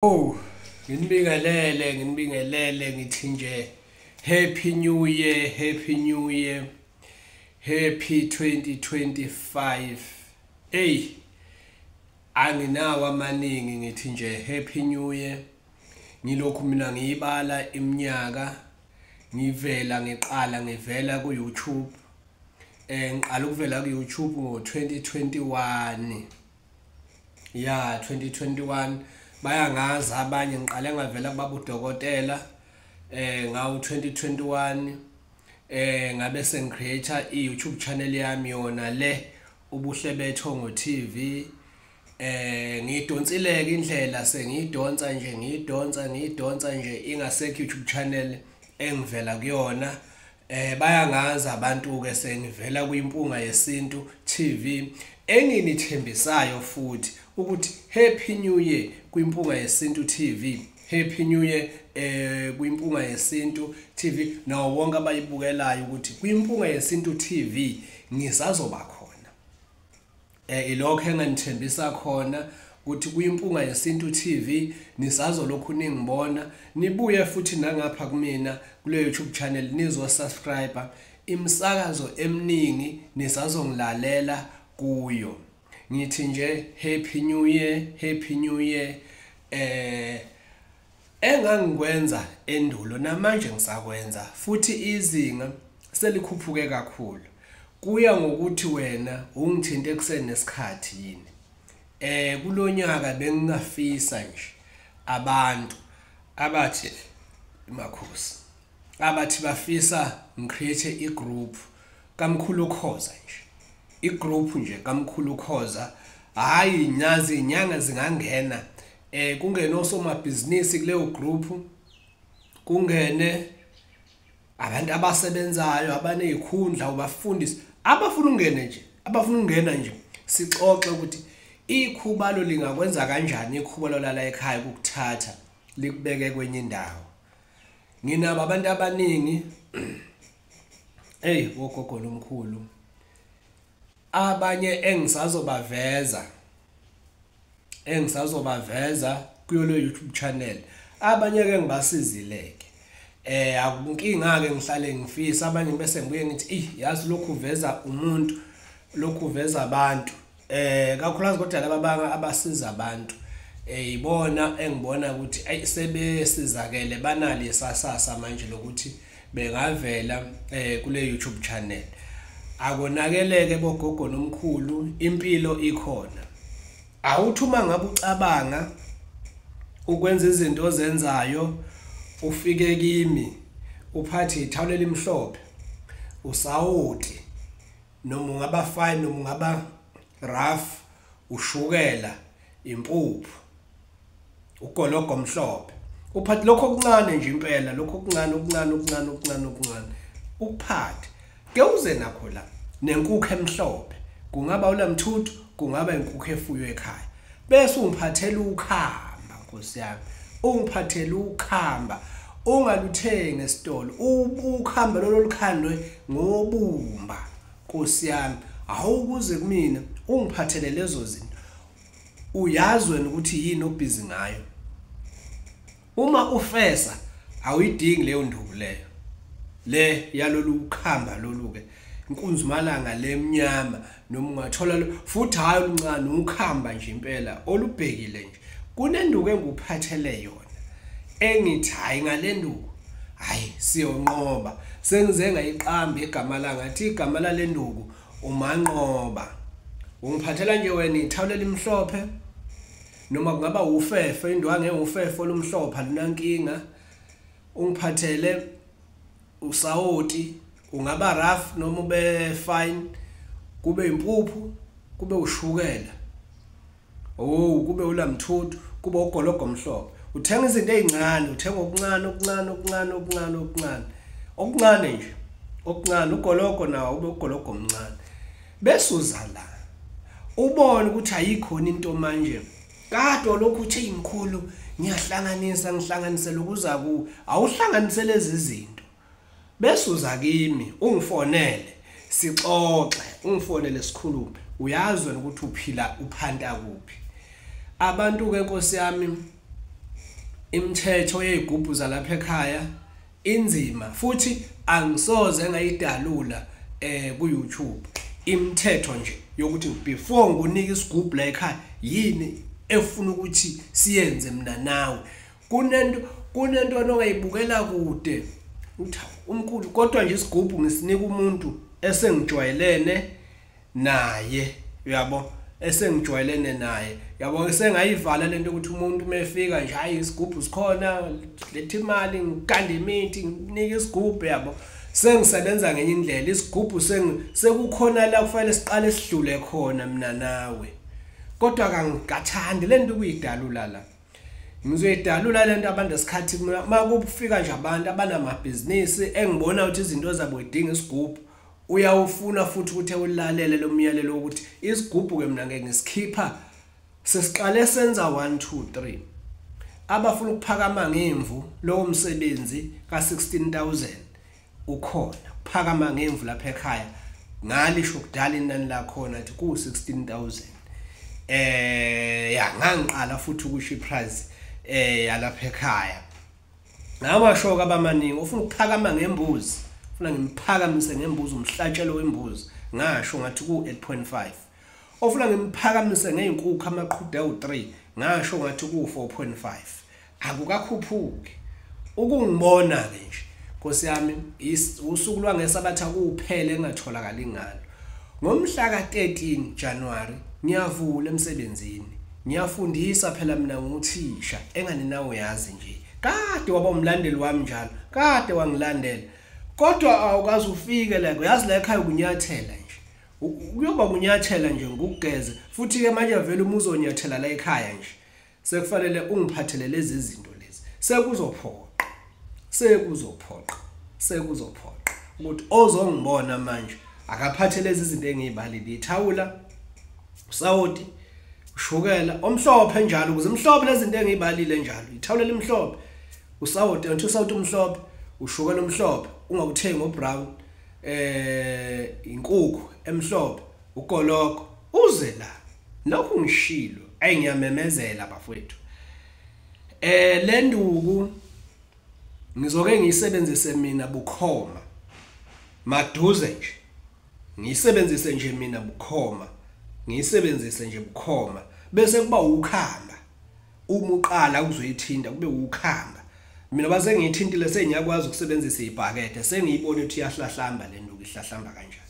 Oh, nginibingelele, nginibingelele ngithi nje happy new year, happy new year. Happy 2025. Hey, anginawo amaningi ngithi nje happy new year. Ngilokhu mina ngiyibala iminyaka ngivela ngiqala ngivela ku YouTube. Eh ngiqala ukuvela ku YouTube ngo 2021. ya 2021 bayangazi abanye ngiqale ngavela kubaba udokotela eh ngawu 2021 eh ngabe sengicreator i YouTube channel yami yona le ubuhle betho ngo TV eh ngidonsileke indlela sengidonsa nje ngidonsa ngidonsa nje ingasekho YouTube channel engivela kuyona Eh bayangazi abantu ke sengivela kuyimpunga yesintu TV enginithembisayo futhi ukuthi happy new year kwimpunga yesintu TV happy new year eh kwimpunga yesintu TV nawo wonke abayibukelayo ukuthi kwimpunga yesintu TV ngisazoba khona Eh ilokho enganithembisa khona ukuthi kuyimpunga yesintu TV nisazolokhu ningibona nibuye futhi nangapha kumina kule YouTube channel nizo subscribe imsakazo eminingi nisazongilalela kuyo ngithi nje happy new year happy new year eh Engangikwenza endulo namanje ngisakwenza futhi izinga selikhuphuke kakhulu. Kuya ngokuthi wena ungithinte ekuseni nesikhathi yini. Eh kulonyaka bengingafisa nje abantu abathi makhosi abathi bafisa ngicreate igroup kamkhulu khoza nje igroup nje kamkhulu khoza hayi nyazi inyanga zingangena eh kungene osomabhizinisi kuleyo group kungene abantu abasebenzayo abanezikhundla ubafundisi abafuna ungene nje abafuna ungena nje sixoxe ukuthi ikhubalo lingakwenza kanjani ikhubalo lala ekhaya ukuthatha likubeke kwenye indawo nginabo abantu abaningi hey wogogo lomkhulu abanye engisazobaveza engisazobaveza kuyolo YouTube channel abanye ke ngibasizileke eh akunkinga ke ngihlale ngifisa abanye bese ngibuye ngithi ey yazi lokhu veza umuntu lokhu veza abantu eh kakhulukazi kodwa laba banga abasiza abantu eh ibona engibona ukuthi ayisebesizakele banali sasasa manje lokuthi bengavela eh kule YouTube channel akonakeleke bogogo nomkhulu impilo ikhona awuthi uma ngabe ucabanga ukwenza izinto ozenzayo ufike kimi uphathe ithawula elimhlophe usawoti noma ungaba fine noma ungaba rough ushukela impuphu ugologo omhlophe uphathe lokho okuncane nje impela lokho okuncane okuncane okuncane okuncane okuncane ukuphathe ke uze nakho la nenkukhu emhlophe kungaba ulamthuthu kungaba inkukhu efuywe ekhaya bese ungiphathela ukhamba nkosi yami ungiphathela ukhamba ungaluthengi esitolo ukhamba lolo lukhandwe ngobumba Nkosi yami, hawu kuze kumina ungiphathele lezo zinto. Uyazi wena ukuthi yini obhizi ngayo. Uma ufesa awuyidingi leyo nduku leyo. Le yalolu ukhamba lolu ke. Inkunzimalanga lemnyama noma ungathola futhi hayi oluncane ukhamba nje impela olubhekile nje. kunenduku engikuphathele yona engithi hhayi ngale nduku hhayi siyonqoba sengize ngayiqamba igama la ngathi igama lale nduku umanqoba ungiphathela nje wena ithawula elimhlophe noma kungaba wufefe indwangu engufefe olumhlophe alunankinga ungiphathele usawoti ungaba rough noma ube fine kube impuphu kube ushukela Oh kube ulamthuthu kube ugologo omhlophe uthenga izinto ezincane uthenga okuncane okuncane okuncane okuncane okuncane okuncane nje okuncane ugologo nawo ube ugologo omncane bese uza la ubone ukuthi ayikhona into manje kade lokhu uthe imkhulu ngiyahlanganisa ngihlanganise lokuza ku awuhlanganise lezi zinto besuza kimi ungifonele sixoxe ungifonele sikhulume uyazi wena ukuthi uphila uphanta kuphi abantu ke nkosi yami imithetho yezigubhu zalapha ekhaya inzima futhi angisoze ngayidalula eh ku YouTube imithetho nje yokuthi before ngikunike isigubhu la ekhaya yini efuna ukuthi siyenze mina nawe kunento kunento onongayibukela kude umkhulu kodwa nje isigubhu ngisinika umuntu esengijwayelene naye uyabo esengijwayelene naye yabo sengayivala lento ukuthi umuntu mefika nje hayi isigubhu sikhona lethi imali ngikande imithi nginike isigubhu yabo sengisebenza ngenye indlela isigubhu sekukhona la kufanele siqale sidlule khona mina nawe kodwa kangathandi lento kuyidalula la ngizoyidalula lento abantu esikhathi uma kufika nje abantu abanamabhizinisi engibona ukuthi izinto zabo idinga isigubhu uyawufuna futhi ukuthi ewulalele lo myalelo wokuthi isigubhu-ke mna ngeke ngisikhipha sesiqale senza 1 2 3 abafuna ukuphakama ngemvu lowo msebenzi ka-16000 ukhona phakama ngemvu lapha ekhaya ngalisho kudala inani lakhona athi ku 16000 eh ya ngangiqala futhi ukusho iprice eh yalapha ekhaya ngamashoka abamaningi ufuna ukuphakama ngembuzi ufuna ngimphakamise ngembuzi umhlatshelo wembuzi ngasho ngathi ku 8.5 ofuna ngimphakamise ngeenkukhu amaqhuda u3 ngasho ngathi ku 4.5 akukakhuphuki ukungibona ke nje Nkosi yami usuku lwangesabatha kuphele engatholakali ngalo ngomhla ka-13 January ngiyavula emsebenzini ngiyafundisa phela mina nguthisha engani nawe uyazi nje kade waba umlandeli wami njalo kade wangilandela kodwa awukaze ufike la uyazi la ekhaya ukunyathela nje kuyoba kunyathela nje ngokugeze futhi ke manje vele uma uzonyathela la ekhaya nje sekufanele ungiphathele lezi zinto lezi sekuzophoqa sekuzophoqa sekuzophoqa ukuthi ozongibona manje akaphathe lezi zinto engiyibalile ithawula usawoti ushukela omhlophe njalo ukuze imhlophe lezi zinto engiyibalile njalo ithawula limhlophe usawoti until sawoti umhlophe ushukela omhlophe ungawuthengi obrown eh inkukhu emhlophe Ugologo uze la. Nokho ngishilo. Ayi ngiyamemezela bafowethu. Eh lenduku ngizoke ngiyisebenzise mina bukhoma. Maduze nje. Ngiyisebenzise nje mina bukhoma. Ngiyisebenzise nje bukhoma bese kuba ukhamba. Uma uqala uzoyithinta kube ukhamba. mina base ngiyithintile sengiyakwazi ukusebenzisa ibhakede sengiyibona ukuthi iyahlahlamba le nduku ihlahlamba kanjani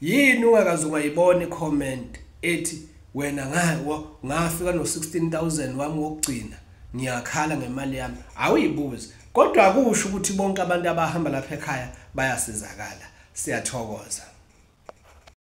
Yini ungakaze ungayibona icomment ethi wena ngawa ngafika no 16000 wami wokugcina ngiyakhala ngemali yami awuyibuzi kodwa akusho ukuthi bonke abantu abahamba lapha ekhaya bayasizakala siyathokoza